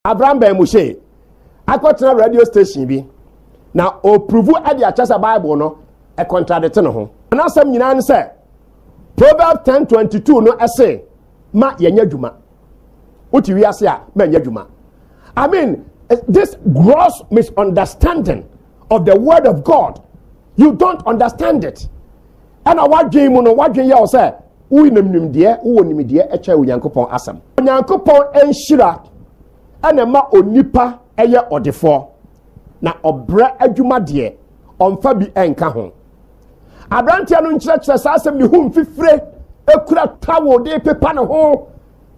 Abraham bɛn mu hyee akɔtena radio station bi na ɔpuruvu de akyɛ sɛ Bible no ɛkɔntradete ne ho. N'asɛm nyinaa ne sɛ Proverbs 10:22 no ɛse ma yɛnyɛ adwuma. Wote wiase a, ma nyɛ adwuma. I mean, this gross misunderstanding of the word of god you don't understand it ɛna wadwen mu no wadwen yɛ wo sɛ woyi nam nimdeɛ wowɔ nimdeɛ ɛkyɛ onyankopɔn asɛm onyankopɔn nhyira ɛna ma onipa ɛyɛ ɔdefoɔ na ɔbrɛ adwuma deɛ ɔmfa bi ɛnka ho aberanteɛ no nkyerɛkyerɛ saa asɛm ne ho mfifire ekura tawo de pepa ne ho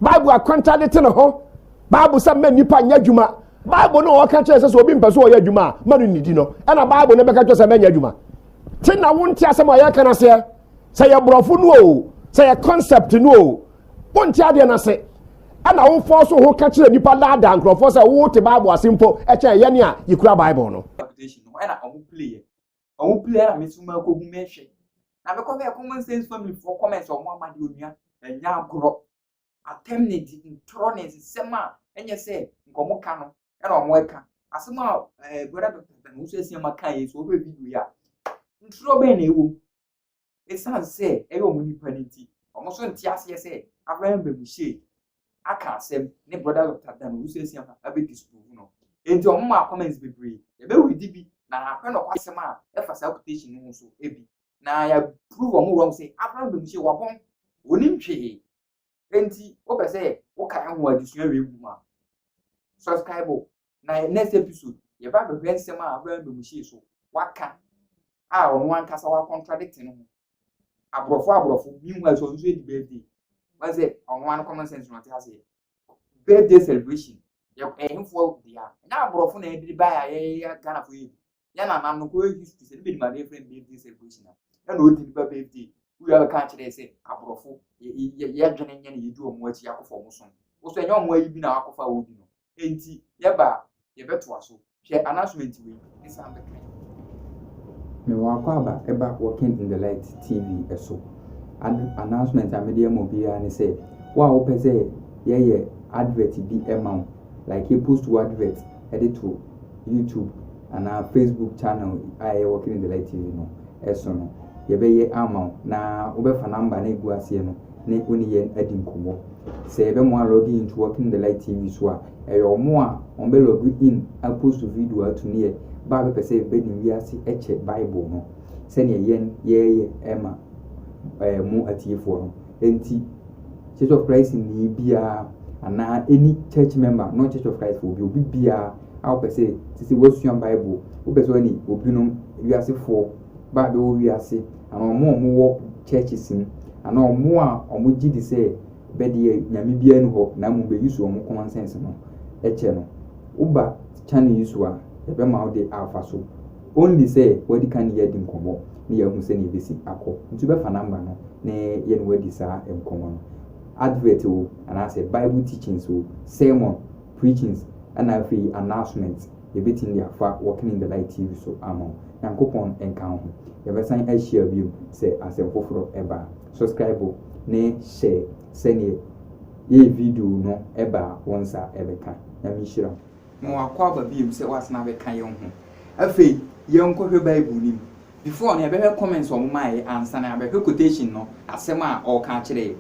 bible akwanta de te ne ho bible sɛ mma nipa nyɛ adwuma bible no ɔka kyerɛ sɛ sɛ obi mpɛ so ɔyɛ adwuma a ma no nnidi no ɛna bible no bɛka kyerɛ sɛ mɛnyɛ adwuma te na wonte asɛm a yɛka no aseɛ sɛ yɛ borɔfo no o sɛ yɛ concept no o wonte adeɛ no ase ɛna wofɔ so ho ka kyerɛ nnipa daadaa nkurɔfoɔ sɛ wote bible ase mpo ɛkyɛn yɛne a yɛkura bible no ɛna ɔmo playɛ ɔmo playɛ na meso ma akɔhu mehwɛ na mekɔ bɛɛ common sense family foɔ comments ɔmo ama de onua ɛnya agorɔ atɛm ne di ntorɔ ne nsɛm a ɛnyɛ sɛ nka ɔmo ka no ɛna ɔmo ɛka asɛm a ɛɛ eh, brɔda dɔkta bɛn nso ɛsi ama ka yɛ so ɔbɛ video yi a ntorɔ bɛn na ɛwɔ mu esan sɛ ɛyɛ ɔmo nipa ne ti ɔmo nso nte aseɛ sɛ abraham bɛn mu hyɛ aka asɛm ne brɔda dɔkta bɛn nso ɛsi ama ɛbɛ disprove no nti ɔmo ma comments bebree ɛbɛ wuli di bi na akɔnɔ kɔ asɛm a ɛfa saa quotation no ho so ebi na yɛaprove wɔn wrong sɛ abraham bɛmu sɛ wabɔn wɔnim hwee enti wopɛ sɛ woka ɛho adesua wei gu mu a subscribe na next episode yɛba abɛhwɛ nsɛm a abraham bɛmu hyee so waka a ɔno ankasa wacontradict no ho aborɔfo aborɔfo meanwhile so ɔno nso adi birthday wɔn sɛ ɔno ano common sense na ɔte aseɛ birthday celebration yɛ ɛhefoɔ dea ɛnyɛ aborɔfo na ɛde baeɛ a yɛyɛ ghanafoɔ yɛ bi yɛn nana no kɔyɛ history sɛ ne bɛ nim adeɛ fɛn birthday celebration a ɛna odi ne ba birthday wúyà bɛ kan kyerɛ sɛ aborɔfo yɛ dwene nyɛ na yɛdi wɔn akyi akɔfa wɔn som wosɔ ɛnyɛ wɔn ayi bi na akɔfa wɔn di no nti yɛba yɛbɛtoa so hwɛ announcement wei ne san bɛka yi. mewɔ akɔ aba ɛba working in the light tv ɛso announcement a mede ama obiara ne sɛ wo a wopɛ sɛ yɛyɛ advert bi ɛma wo like yɛpost wo advert de to YouTube anaa Facebook channel a ɛyɛ Walking in the Light TV no ɛso no, yɛbɛyɛ ama wo na wobɛfa number na ɛgu aseɛ no ne wo ne yɛn adi nkɔmmɔ. Sɛ yɛbɛmoa log in to Walking in the Light TV so a, ɛyɛ ɔmo a ɔmo bɛ log in apost video ato ne yɛ ba a bɛpɛ sɛ bɛnim wiase ɛkyɛ Bible no sɛdeɛ yɛn yɛɛyɛ ɛma ɛɛ mo atiefoɔ no. Enti, Church of Christ ni biara anaa any church member, not Church of Christ obi obi biara a wopɛ sɛ sisi wasua Bible, wopɛ sɛ ɔne obinom wiasefoɔ ba bɛwɔ wiase anaa wɔn a wɔwɔ churches mu anaa wɔn a wɔgye di sɛ bɛdeɛ nyame biara ni hɔ na mmom bɛyi so wɔn common sense no kyɛ no woba channel yi so a ɛbɛma wode afa so Only sɛ wadi kan ne yɛn adi nkɔmmɔ na yɛahu sɛnea ebesi akɔ. Nti wobɛfa number no na yɛne wo adi saa nkɔmmɔ no. Advert o, anaasɛ Bible teachings o, sermon, preachings, ɛna afei announcements, yɛbɛtumi de afa Walking in the Light TV so ama wo. Nyankopɔn nka wo ho. Yɛbɛsan ahyia bio sɛ asɛm foforɔ ba a. Subscribe ne hyɛ sɛdeɛ yɛyɛ video no ba a wo nsa bɛka. Nyame nhyira wo. Ma wakɔ aba bio sɛ wasan abɛka yɛn ho. Afei yɛnkɔhwɛ Bible no mu. Before no, yɛbɛhwɛ comments a wɔmaeɛ ansa na yɛabɛhwɛ quotation no, asɛm a ɔreka akyerɛ yɛn.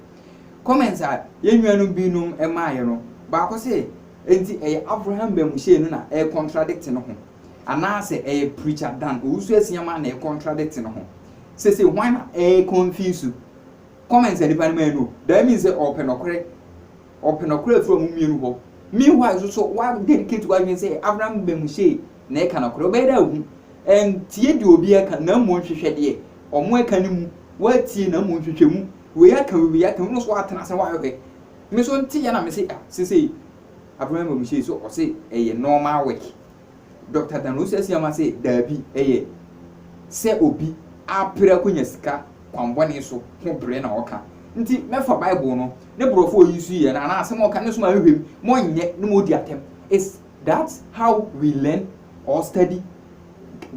Comments a yɛn nuanom binom maeɛ no, baako se, Enti ɛyɛ Avraham bamuhyɛn no na ɛrecontradict ne ho? Anaasɛ ɛyɛ Preacher Dan Owusu-Asia Mah na ɛrecontradict ne ho? Seesei hwan na ɛreconfuse? Comments a nnipa no mae no, that means sɛ ɔrepɛ nɔkorɛ. ɔpɛ nɔkorɛ afiri ɔmo mmienu hɔ. Meanwhile nso so wa dedicate w'adwene sɛ Abraham bɛmu sei na ɛka nɔkorɛ. Wobɛyɛ dɛ ahu. Ɛntie deɛ obiara ka na mmom hwehwɛ deɛ ɔmo ɛka no mu. W'atie na mmom hwehwɛ mu. Wei aka wei aka wei, wo nso w'atena ase na w'ahwehwɛ. Me nso nteɛ na me se ah sesei Abraham bɛmu sei so ɔse ɛyɛ normal work. Dɔkta Dan Owusu Asiamah se daabi, ɛyɛ sɛ obi apere akonya sika kwammɔne so ho bere na ɔka nti mɛfa Bible no ne borɔfo a oyi nso yɛ no anaa asɛm a ɔka no nso ma ahwehwɛ mu ma ɔnyɛ na ma odi atɛm. Is that how we learn or study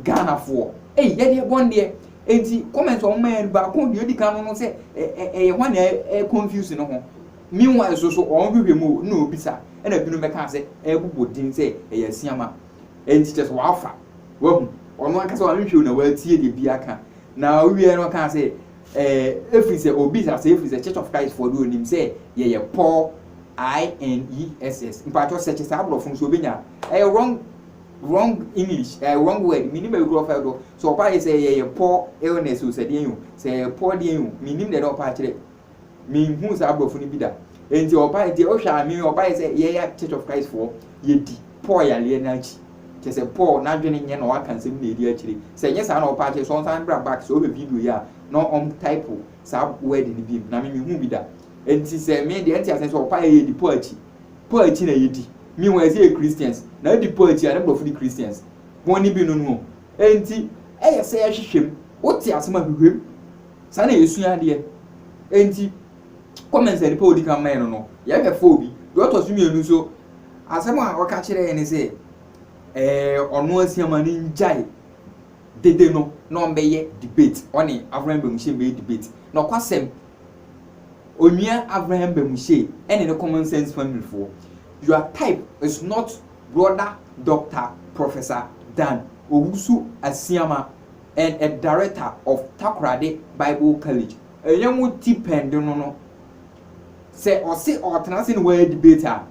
Ghanafoɔ? Ei yɛdeɛ bɔn deɛ. Enti comment a wɔma yɛ no baako deɛ odi kan no no sɛ ɛyɛ hwan na ɛconfuse ne ho? Meanwhile nso so wɔn hwehwɛ mu o, nna obisa, ɛna binom bɛka sɛ ɛrebobɔ din sɛ ɛyɛ asiama. Ɛnti kyerɛ sɛ wafa, wahu. Ɔno ankasa wanhwehwɛ o na watie deɛ bi aka. Na ɔwieɛ no ɔkaa sɛ, ɛɛ, ɛfiri sɛ obisa sɛ ɛfiri sɛ Church of Christ foɔ deɛ ɔnim sɛ yɛyɛ poor INESS. Mpakyɛw search saa aborɔfo no so obɛnya. Ɛyɛ wrong wrong English, ɛɛ wrong word, menim baabi korɔ ɔfa ɛdɔ. Sɛ ɔpa yɛ sɛ yɛyɛ poor illness o, sɛ deɛn o, sɛ yɛyɛ poor deɛn o, menim deɛ na ɔpa akyerɛ. Menhuu saa aborɔfo no bi da. Enti ɔbae, nti wohwɛ a, me ɔbae sɛ yɛyɛ Church of Christ foɔ, yɛdi Paul yareɛ no akyi. Kyerɛ sɛ Paul n'adwene nyɛ na waka nsɛm na ɛdi akyire. Sɛ ɛnyɛ saa na ɔpɛ akyerɛ, sɛ ɔnsan bra back, sɛ ɔhwɛ video yi a, na ɔm type saa word no biom. Na me menhuu bi da. Enti sɛ me deɛ, ɛnte aseɛ sɛ ɔpaeɛ a yɛdi Paul akyi. Paul akyi na yɛdi. Meanwhile sɛ yɛ Christians, na adi Paul akyi a, ne borɔfo di Christians. Bɔne bi no no o. Enti ɛyɛ sɛ yɛhwehwɛ mu. Wote asɛm a, hwehwɛ mu. Saa na yɛsua adeɛ. Enti comments a nipa a ɔdi kan mae no no, yɛhwɛ four bi. Deɛ ɔtɔ so mmienu nso, asɛm a ɔka kyerɛ yɛn ne sɛ, eh, ɔno asiama no ngyae dede no na ɔmbɛyɛ debate, ɔne Avraham Bamuhyɛ mbɛyɛ debate. Nɔkwasɛm, Onua Avraham Bamuhyɛ ɛne ne common sense family foɔ, your type is not brother Doctor Professor Dan Owusu Asiama. and a director of Takoradi Bible College, ɛyɛ mo tipɛnd no no, sɛ ɔse ɔɔtena ase ne woayɛ debate a,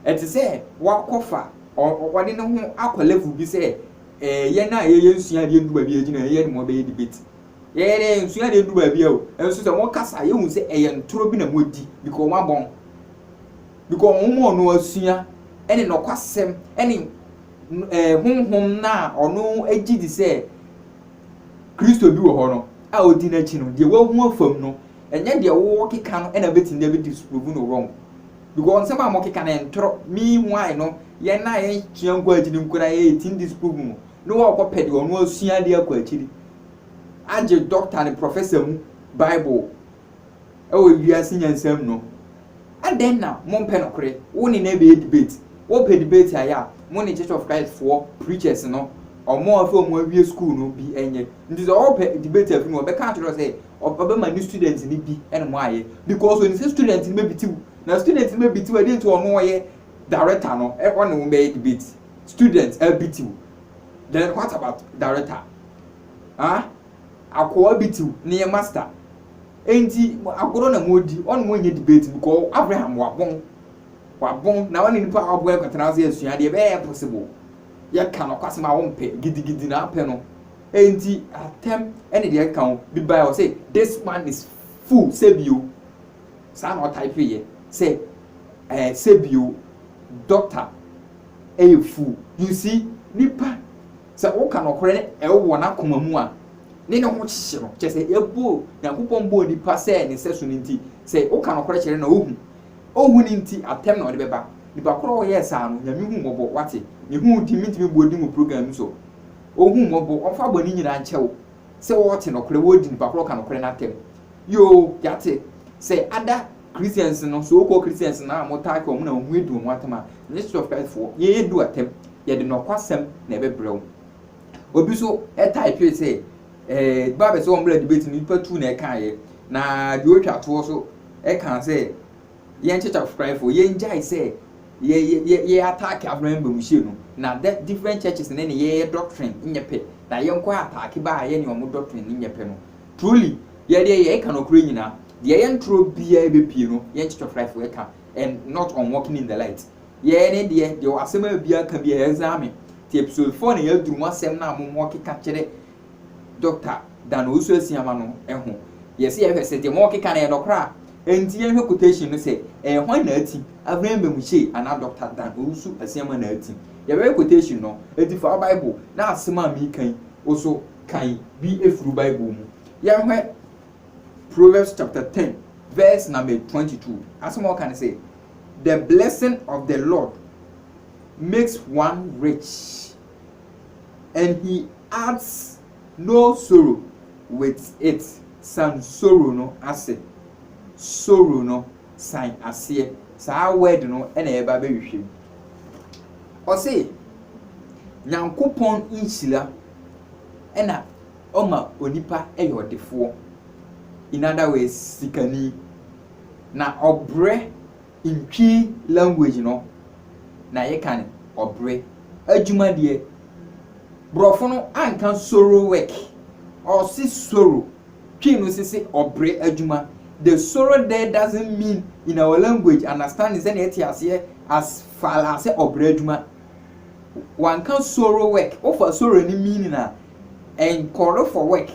ɛte sɛ woakɔfa, ɔde ne ho akɔ level bi sɛ eh, yɛn a yɛyɛ nsua adeɛ ndu baabi a yɛgyina yɛyɛ ne mo bɛyɛ debate. Yɛyɛ dɛ nsua adeɛ ndu baabi a o, nso sɛ mo kasa yɛhu sɛ ɛyɛ ntorɔ bi na moadi because wɔn abɔn, because wɔn ma ɔno asua ɛne nɔkwasɛm ɛne no ɛɛ honhom no a ɔno gye di sɛ Kristo bi wɔ hɔ no a odi n'akyi no, deɛ wahu afam no, ɛnyɛ deɛ wɔkeka no na bɛtumi de abɛdi so provu no wrong. Because nsɛm a wɔkeka no ntorɔ, meanwhile no, yɛn a yɛsua nkɔ akyiri no koraa yɛtumi disprove mu na wɔkɔpɛ deɛ ɔno asua de akɔ akyiri agye doctor ne professor mu Bible wɔ wiase nyansa mu no, adɛn na mompɛ nokore? Wo ne no abɛyɛ debate. Wopɛ debate ayɛ a, mo ne Church of Christ foɔ preachers no, ɔmo a sɛ ɔmo awie school no bi nyɛ. Nti sɛ ɔɔpɛ debate afi no hɔ a, ɔbɛka akyerɛ wo sɛ ɔbɛma ne students no bi ne mo ayɛ because onim sɛ students no bɛbiti wo. Na students no bɛbiti wo a, dɛn nti a ɔno a ɔyɛ director no ɔne wo bɛyɛ debate? Students abiti wo, then what about director? Haa? Akoa bi tiw ne yɛ master enti agorɔ na wɔredi, ɔne wɔn nyɛ debate because Abraham wabɔn, wabɔn na ɔne nipa a wabɔn akɔtena ase asua adeɛ ɛbɛyɛ possible, yɛka nɔkwasɛm a wɔmpɛ, gidigidi na apɛ no enti atɛm ɛne deɛ ɛka ho, bi bae ɔse this man is fool sɛbio, saa na ɔtype yɛ sɛ eh, sɛbio doctor ɛyɛ fool, you see nipa. Sɛ woka nɔkorɛ na ɛwo wɔ n'akoma mu a, ne ne ho hyehye no. Kyerɛ sɛ, yɛbɔɔ, Nyankopɔn bɔɔ nipa sɛ ne sɛso no nti, sɛ woka nɔkorɛ kyerɛ no na ohu. Onhu no nti, atɛm na ɔde bɛba. Nipa korɔ a ɔyɛɛ saa no, Nyame hu mmɔbɔ, wate? Ne ho di, mentumi bɔ din wɔ program mu so. Ohu mmɔbɔ, ɔmfa bɔne nyinaa nkyɛ wo. Sɛ wɔte nɔkorɛ, wɔdi nipa korɔ a ɔka nɔkorɛ no atɛm. Yoo, yɛate. Sɛ ada Christians no, so called Christians no a wɔtaa ka wɔn na wɔn ho adu wɔn atam a, ɛnyɛ Church of Christ foɔ. Yɛn adu atam. Yɛde nokwasɛm na ɛbɛbrɛ wo. Obi nso taepee sɛ, eh, Bible sɛ wɔmmra debate no, nipa tu na ɛkaeɛ. Na deɛ ɔretwa toɔ nso ɛkaa sɛ, yɛn Church of Christ foɔ, yɛn gyae sɛ yɛ yɛ yɛ ataake Abraham Bamuhyia no. Na dɛ different churches ne ne yɛyɛ doctrine nyɛ pɛ. Na yɛn kɔ ataake baa yɛ ne wɔn doctrine no nyɛ pɛ no. Truly, yɛ deɛ yɛ ɛka nɔkorɛ nyina, deɛ ɛyɛ ntorɔ biaa ɛbɛpie no yɛ nkyetwɛ fraefo ɛka and not on walking in the light. Yɛ ɛne deɛ, deɛ wɔ asɛm a biaa ka biaa ɛzame, ti episode four na yɛaduru mu asɛm no a mo mo keka kyerɛ Doctor Dan Owusu Asiamah no ɛho, yɛ se yɛhwɛ se deɛ mo keka no ɛyɛ nɔkorɛ a, ɛnti yɛnhwɛ quotation no sɛ ɛyɛ hwan na ati, Avram Bamuchie anaa Doctor Dan Owusu Asiamah na ati, yɛbɛhwɛ quotation no, ɛnti fa wo bible na asɛm a meka yi wo so. kan bi firi Bible mu. Yɛhwɛ Proverbs chapter ten verse number twenty two. Asɛm a ɔka ne sɛ, The blessing of the Lord makes one rich, and he adds no sorrow with it. San sorrow no ase. Sorrow no san aseɛ. Saa word no na yɛba abɛhwehwɛ mu. Ɔse, Nyankopɔn nhyira ɛna ɔma onipa yɛ ɔdefoɔ, in other words sikani, na ɔbrɛ in Twi language no na yɛka no ɔbrɛ. Adwuma deɛ, borɔfo no anka soro work, ɔse soro, Twi no se se ɔbrɛ adwuma. The soro there doesn't mean in our language understanding sɛdeɛ yɛte aseɛ as far as sɛ ɔbrɛ adwuma. Wɔanka soro work, wofa soro ne meaning a, nkɔre for work,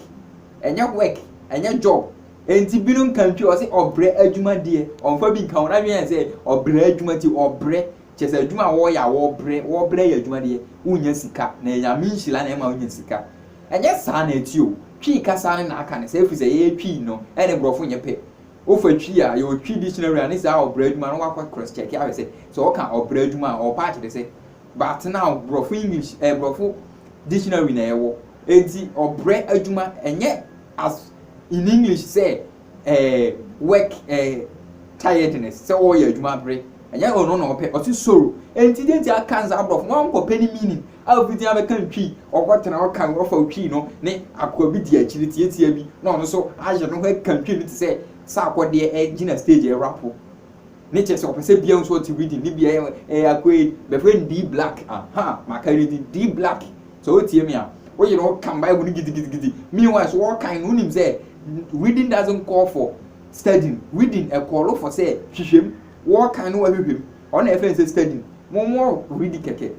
ɛnyɛ work, ɛnyɛ job. Enti binom ka ntwi, ɔse ɔbrɛ adwuma deɛ, ɔmfa bi nka ho, n'adwene yɛ sɛ ɔbrɛ adwuma nti ɔbrɛ, kyerɛ sɛ adwuma a wɔyɛ a wɔbrɛ, wɔbrɛ yɛ adwuma deɛ, wonnya sika, na ɛyɛ Nyame nhyira na ɛma wonya sika. Ɛnyɛ saa na ɛteɛ o, Twi kasa no na aka no saa, ɛfiri sɛ yɛyɛ Twi no ne borɔfo nyɛ pɛ. Wofa Twi a, yɛwɔ Twi dictionary a ne saa ɔbra adwuma no wɔakɔ cross check ahwɛ sɛ, sɛ wɔka ɔbra adwuma a ɔpa akyerɛ sɛ. But now borɔfo English ɛɛ borɔfo dictionary na yɛwɔ. Enti ɔbrɛ adwuma ɛnyɛ as in English sɛ ɛɛ work ɛɛ tiredness sɛ wɔreyɛ adwuma bere. Ɛnyɛ ɔno na ɔpɛ, ɔse soro. Enti deɛ nti a aka no saa borɔfo no wɔankɔpɛ ne meaning. a obi din abɛka ntwi, ɔkɔtena hɔ kan ɔfa otwi no ne akoa bi di akyiri tiatia bi na ɔno nso ayɛ ne ho ɛka ntwi no te sɛ sɛ akɔdeɛ ɛgyina stage ɛrapo ne kyɛ sɛ ɔpɛ sɛ bia nso ɔte rhythm ne bia ɛyɛ akoa yi bɛfrɛ no D Black aha maka ne din D Black sɛ wotie me a woyɛ no ɔka mbae mu no gidigidigidi meanwhile so ɔkan no wonim sɛ reading doesn't call for studying reading ɛkɔɔlo for sɛ hwehwɛm wɔkan no wahwehwɛm Ɔno na yɛfrɛ no sɛ study. Mo mo read kɛkɛ.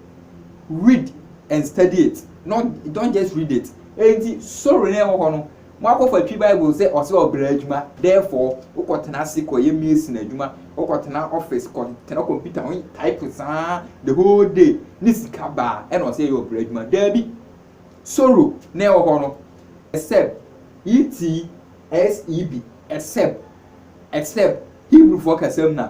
Read and study it. Not don't just read it. Enti soro na ɛwɔ hɔ no. Mo akɔfa twi Bible sɛ ɔsɛ ɔbra adwuma. Therefore, wokɔ tena ase kɔ yɛ mason adwuma. Wokɔ tena office kɔ tena computer ho type saa the whole day ne sika baa ɛna ɔsɛ yɛ ɔbra adwuma. Daabi. Soro na ɛwɔ hɔ no. Except. E-T-S-E-B. Except. Except. Hebrewfoɔ kasa mu na.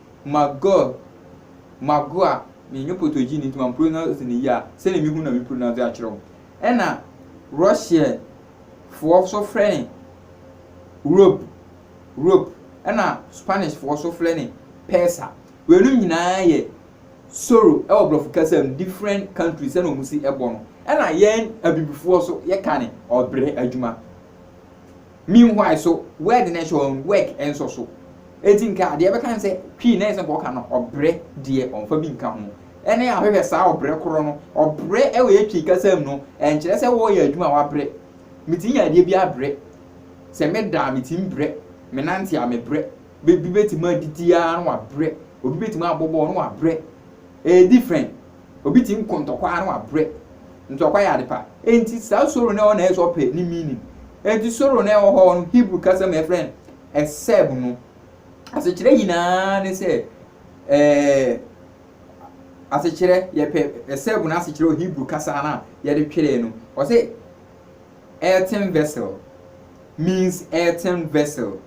Magor, Magoa, mennyɛ Potogini nti mampronouce no yie a, sɛdeɛ mehu no na mepronounce akyerɛ wo. Ɛna Russia foɔ nso frɛ no Rob, Rope, ɛna Spanish foɔ nso frɛ no Pesa. Weinom nyinaa yɛ Soro ɛwɔ Brɔfo kasa mu, different countries sɛdeɛ wɔn si ɛbɔ no. Ɛna yɛn Abibifoɔ nso yɛka no Ɔbrɛ adwuma. Meanwhile so word no nso ɔn work nso so. Enti nka deɛ ɛbɛka ne sɛ Queen na ɛsɛ nka ɔka no ɔbrɛ deɛ ɔmfa bi nka ho. Ɛne ahwehwɛ saa ɔbrɛ korɔ no. Ɔbrɛ wɔ Twi kasa mu no ɛnkyerɛ sɛ wɔɔyɛ adwuma a wabrɛ. Metumi yɛ adeɛ bi abrɛ. Sɛ meda a metumi brɛ. Menante a mebrɛ. Bɛ bi bɛtumi adidi ara na wabrɛ. Obi bɛtumi abɔ bɔɔl na wabrɛ. Ɛyɛ different. Obi tumi kɔ ntɔkwa na wabrɛ. Ntɔkwa yɛ ade pa. Enti saa soro no a ɛwɔ na ɛyɛ sɛ ɔpɛ ne meaning. Enti soro no a ɛwɔ hɔ no, Hebrew kasa mu yɛfrɛ no ɛsɛb no. Asekyerɛ nyinaa ne sɛ ɛɛ asekyerɛ yɛpɛ ɛsɛb no asekyerɛ wɔ Hebrew kasa no a yɛde twerɛɛ no. Ɔsɛ earthen vessel means earthen vessel.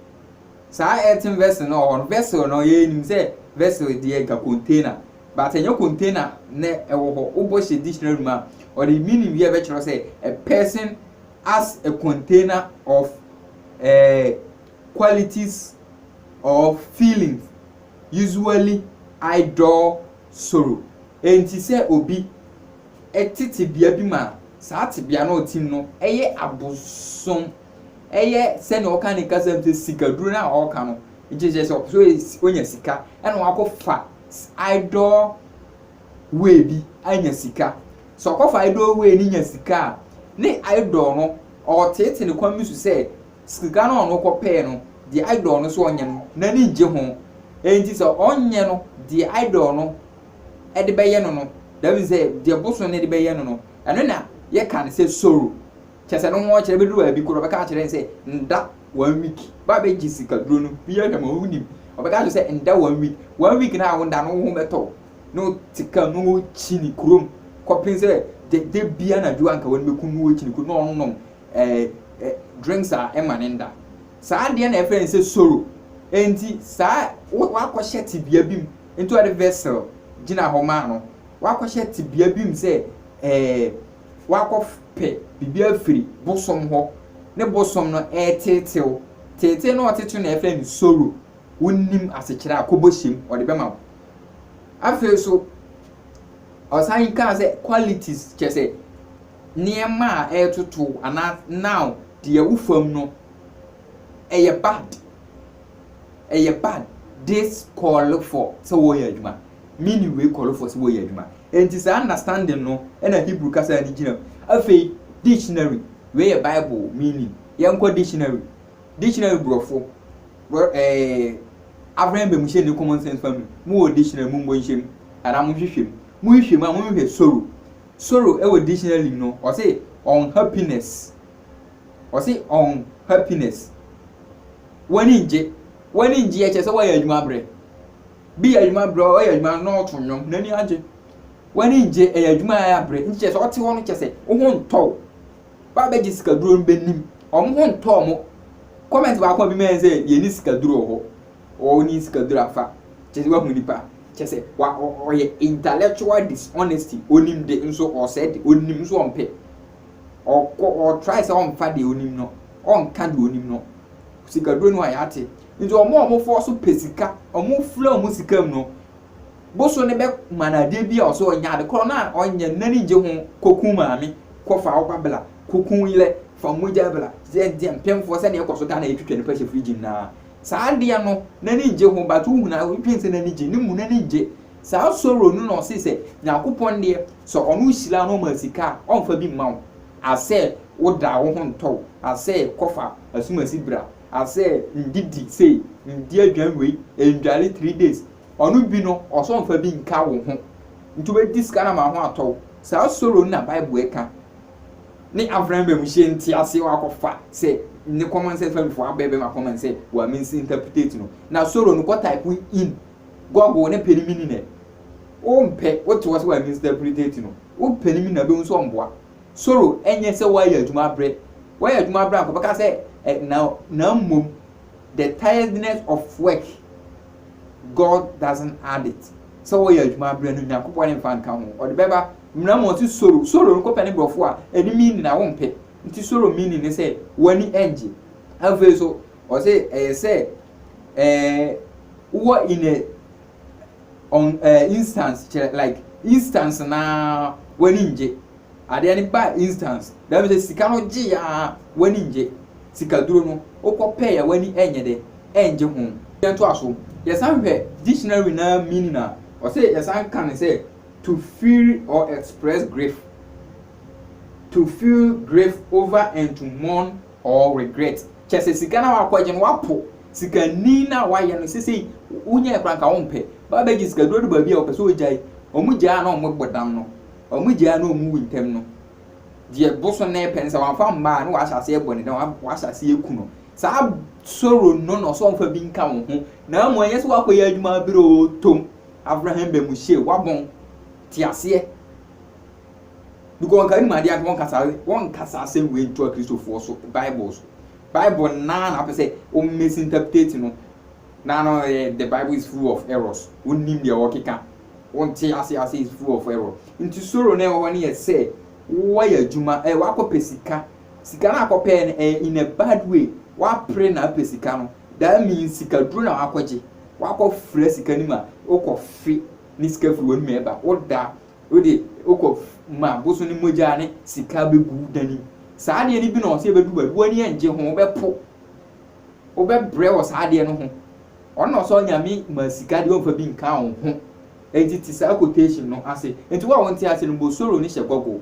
Saa earthen vessel no wɔ hɔ no, vessel no yɛnim sɛ vessel deɛ ɛka container. But ɛnyɛ container na ɛwɔ hɔ. Wobɔ hyɛ dictionary mu a, ɔde meaning bi a ɛbɛkyerɛ wo sɛ a person as a container of eh, qualities or feelings, usually idle sorrow. Enti sɛ obi te tebea bi mu a, saa tebea no a ɔte mu no yɛ abosom, ɛyɛ sɛnea wɔka no ne kasa mu sɛ sikaduro no a ɔreka no, nti kyerɛ sɛ ɔpɛ sɛ onya sika na wakɔfa idol way bi anya sika. Sɛ ɔkɔfa idol way no nya sika a, ne idol no ɔreteetee no kwan bi so sɛ sika no a ɔno kɔpɛɛ no, deɛ idol no sɛ ɔnyɛ no, n'ani ngye ho. Enti sɛ ɔnyɛ no, deɛ idol no de bɛyɛ no no, that means sɛ deɛ bosom no de bɛyɛ no no, ɛno na yɛka no sɛ soro. Kyerɛ sɛ no ho ɔkyerɛ bɛduru baabi korɔ ɔbɛka akyerɛ no sɛ nda one week ba bɛgye sika duro no bi ahwɛ ma wonim ɔbɛka akyerɛ sɛ nda one week one week na a wonda no woho bɛtɔ wo na wote kam na wokyini kurom kɔpem sɛ da da bi anadwo anka wɔn bɛkum no wɔkyini kurom na ɔnom ɛɛ ɛ drinks a ɛma ne nda saa adeɛ na ɛfrɛ no sɛ soro enti saa wakɔhyɛ tebea bi mu nti ɔde vessel gyina hɔ maa no wakɔhyɛ tebea bi mu sɛ ɛɛ. wakɔpɛ biribi afiri bosom hɔ ne bosom no reteetew. Teetee no a ɔtetew na yɛfrɛ no soro. Wonnim asekyerɛ a, kɔ bɔhyem, ɔde bɛma wo. Afei nso, ɔsan kaa sɛ qualities kyɛ sɛ nneɛma a ɛretoto anaa now deɛ wo fam no ɛyɛ bad ɛyɛ bad this call for sɛ wɔyɛ adwuma meaning wei call for sɛ wɔyɛ adwuma Enti saa understanding no na Hebrew kasa ani gyina mu. Afei, dictionary, wei yɛ Bible meaning. Yɛnkɔ dictionary. Dictionary Borɔfo, Bor eh, Abraham Bamuhyɛ ne Common Sense Family, mowɔ dictionary, mommɔ nhyɛ mu, anaa monhwehwɛ mu. Mohwehwɛ mu a, monhwehwɛ sorrow. Sorrow wɔ dictionary mu no, ɔse unhappiness. Ɔse unhappiness. W'ani ngye. W'ani ngye yɛ kyerɛ sɛ woayɛ adwuma abrɛ. Bi yɛ adwuma berɛ ɔyɛ adwuma na ɔreto nnwom n'ani agye. W'ani ngye ɛyɛ adwuma a ɛyɛ abrɛ nti kyerɛ sɛ ɔte hɔ no kyerɛ sɛ wo ho ntɔ wo. W'abɛgye sikaduro no bɛnim wɔn ho ntɔ wɔn. Comment baako a bi mayɛ sɛ yɛnni sikaduro wɔ hɔ ɔnni sikaduro afa kyerɛ sɛ wahu nipa kyerɛ sɛ wa ɔyɛ intellectual dishonesty onim de nso ɔsɛe de onim nso ɔmpɛ ɔkɔ ɔtry sɛ ɔmfa deɛ onim no ɔnka deɛ onim no sikaduro no a yɛate Ntsi wɔn a wɔfɔw so pɛ sika, wɔfura wɔn sika mu no, bosoe no bɛma no adeɛ bi a ɔsɛ ɔnyɛ, ade korɔ no a ɔnyɛ no n'ani nngye ho, Kɔku maame, kɔ fa wo ba bla, kɔku wo yerɛ, fa wo mogya bla, sɛ nteɛ mpemfoɔ sɛdeɛ ɛkɔ so Ghana yɛtwitwa nipa hyɛ fridge mu no ara, saa adeɛ no n'ani nngye ho but wohunu a wodwene sɛ n'ani gye, ne mu n'ani nngye. Saa sorrow no na ɔse sɛ Nyankopɔn deɛ sɛ ɔno hyira wo na ɔma sika a, ɔmfa bi mma wo asɛ woda wo ho ntɔ wo asɛ kɔfa asumasi bra, asɛ ndidi sei ndi aduan wei ndware three days ɔno bi no ɔsɛ ɔnfa bi nka wo ho nti wobɛdi sika no ama wo ho atɔ wo saa soro no na bible ɛka ne avran bɛ mu hyɛ nti aseɛ wakɔfa sɛ ne common sense fam fo abɛ bɛma common sɛ wa minsi interpretate no na soro no kɔ type in google ne pɛ ne mini nɛ wo mpɛ wo te wɔ sɛ wa minsi interpretate no wo pɛ ne mini na bɛhu sɛ ɔmboa soro nyɛ sɛ wɔayɛ adwuma abrɛ, wɔyɛ adwuma abrɛ a nka wɔbɛka sɛ ɛ na na mmom the tiredness of work God doesn't add it sɛ wɔyɛ adwuma abrɛ no Nyankopɔn ne mfa nka ho ɔde bɛba mmena mu ɔte soro soro no kɔpɛ ne borɔfo a ɛne meaning a wɔmpɛ nti soro meaning ne sɛ wɔani ɛngye afei so ɔse ɛyɛ sɛ ɛɛ wɔ in a ɔn ɛɛ instance kyerɛ like instance naa w'ani ngye adeɛ no baa instance dɛm sɛ sika no gye yaa w'ani ngye sikaduro no wokɔ pɛɛ a w'ani ɛnyɛ dɛ ɛngye ho. Yɛn to aso yɛsan hwɛ dictionary naa meaning a ɔsɛ yɛsan ka no sɛ to feel or express grief to feel grief over and to mourn or regret kyɛsɛ sika no a wakɔ gye no wapo. sikani no a wayɛ no sesei wonyɛɛ koraa nka wompɛ, ba bɛgye sika duru adu baabi a ɔpɛ sɛ ɔgyae, wɔn gyae a na wɔn bɔ dam no, wɔn gyae a na wɔn wu ntɛm no, deɛ bosonne pɛ no sɛ wɔamfa mmaa a na wɔahyɛ aseɛ bɔ ne dam, wɔahyɛ aseɛ aku no, saa soro no na ɔsɛ ɔmfa bi nka wo ho, na mmom ɛnyɛ sɛ woakɔyɛ adwuma abere oo tom, Avraham Bamuhyie, woabɔn, te aseɛ, because nka wonim adeɛ anka wɔnka saa wɔnka saa asɛm wei nto akristofoɔ so, bible so. Bible no ara na apɛ sɛ wo misinterpret no na no yɛ the Bible is full of errors wonnim deɛ wɔkeka wonte ase ase is full of error nti soro na ɛwɔ hɔ no yɛ sɛ woayɛ adwuma ɛyɛ wakɔpɛ sika sika no akɔpɛɛ no ɛyɛ in a bad way wapere na apɛ sika no that means sika duro na wakɔgye wakɔfra sika no mu a wokɔfe ne sika firi w'anum ɛba woda Wode wokɔ ma abosom no mogya ne sika bɛgu wo dan mu. Saa adeɛ no bi na ɔsɛ yɛbɛdu baabi. W'ani ɛngye ho, wobɛpo. Wobɛbrɛ wɔ saa adeɛ no ho. Ɔno na ɔsɛ onyame ma sika deɛ ɔmfa bi nka wo ho. Enti te saa quotation no ase. Enti wo a wonte ase no bɔ soro no hyɛ Google.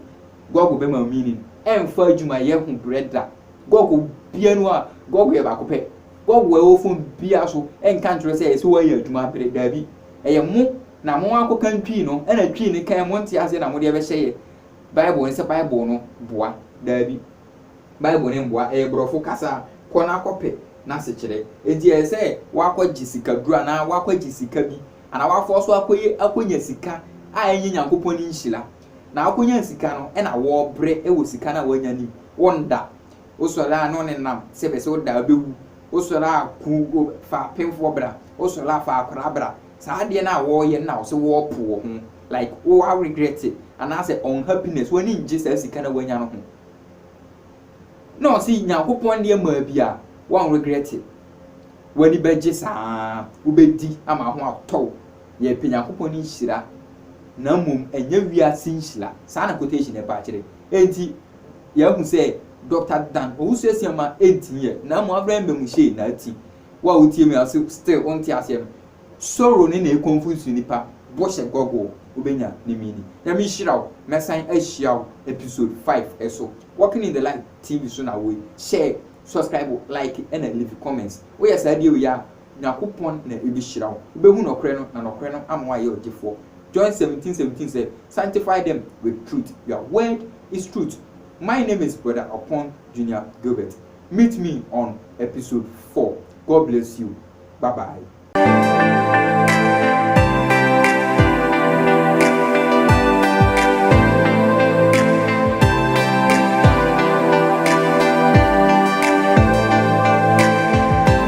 Google bɛma wo meaning. Ɛmfa adwumayɛ ho brɛ da. Google bia no a, Google yɛ baako pɛ. Google a ɛwɔ phone biara so nka nkyerɛ wo sɛ ɛsɛ woayɛ adwuma abrɛ. Daabi. ɛyɛ mo na mo akɔkan Twi no, ɛna Twi no kan mo nte aseɛ na mode ɛbɛhyɛ yɛ Bible no sɛ Bible no boa. Daabi. Bible no mboa. Ɛyɛ borɔfo kasa. Kɔ na kɔpɛ n'asekyerɛ. Enti ɛyɛ sɛ woakɔgye sikaduro anaa woakɔgye sika bi anaa woafa so akɔyɛ akɔnya sika a ɛnyɛ Nyankopɔn ne nhyira. Na woakɔnya sika no ɛna wɔɔbrɛ wɔ sika no a woanya no mu. Wonda. Wo sɔre a na ɔne nam sɛ bɛ sɛ wo da bɛ wu Wo sɔre a ku o fa apemfoɔ bra Wo sɔre a fa akwadaa bra Saa adeɛ no a wɔɔyɛ no na wo sɛ wɔɔpo wɔ ho Like wo a regrɛte anaasɛ unhappiness W'ani ngye saa sika no a w'anya no ho Na ɔse Nyankopɔn deɛ maa bi a w'an regrɛte W'ani bɛgye saa Wo bɛdi ama ho atɔ wo Yɛɛpɛ Nyankopɔn ne nhyira Na mmom ɛnyɛ wiase nhyira Saa na quotation no ɛbaa kyerɛ Enti Yɛahu sɛ Doctor Dan Owusu asia ma ɛntumi yɛ, na mmom afra mma mu hyɛɛ na ati. Wo a wotie me a so still wonte aseɛ no, Sorrow no na ɛconfuse nnipa, bɔhyɛ Google wobɛnya ne meaning. Nyame nhyira wo, mɛsan ahyia wo episode five so. Walking in the light TV so na woe, share, subscribe, like ɛna leave comments. Woyɛ saa die wei a Nyankopɔn na ebehyira wo. Wubehu nɔkorɛ no, na nɔkorɛ no ama woayɛ ɔgyefoɔ. John seventeen seventeen sɛ, Sanctify them with truth, your word is truth. My name is Brother Opon Junior Gilbert. Meet me on episode four. God bless you. Bye bye.